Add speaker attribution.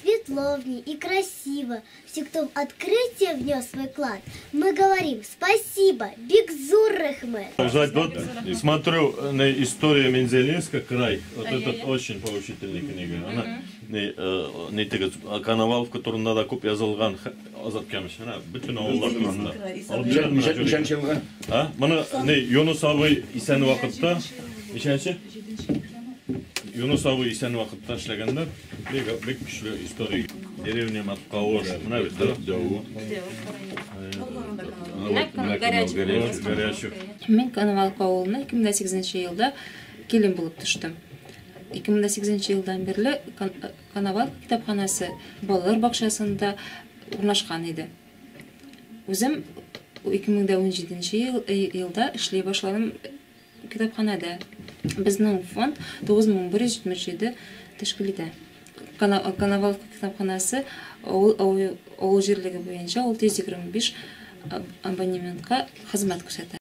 Speaker 1: Светловни и красиво всех кто в открытие внес свой вклад мы говорим спасибо бик зур рәхмәт. Узать вот
Speaker 2: смотрю не история мензелинска край вот этот очень поучительный книга она не не теге коноваловка турында да күп язылган азат камыш менә бөтен авыллар турында алып бирәм менә күрегез ничәнче
Speaker 3: елгы а моны не
Speaker 2: юныс абый исән вакытта ничәнче юныс абый исән вакытта эшләгәннәр Бик бик көчле историк. Деревня Маткавош. Менә бит да. Дәвут. Мин Коновалка
Speaker 4: авылына 2008 елда килен булып төштем. 2008 елдан бирле Коновалка китапханәсе балалар бакчасында урнашкан иде. Үзем 2017 елда эшли башладым Китапханәдә безнең фонд 9177 тәшкил итә. Коноваловка китапханәсе авыл авыл җирлеге буенча 625 абонементка хезмәт күрсәтә.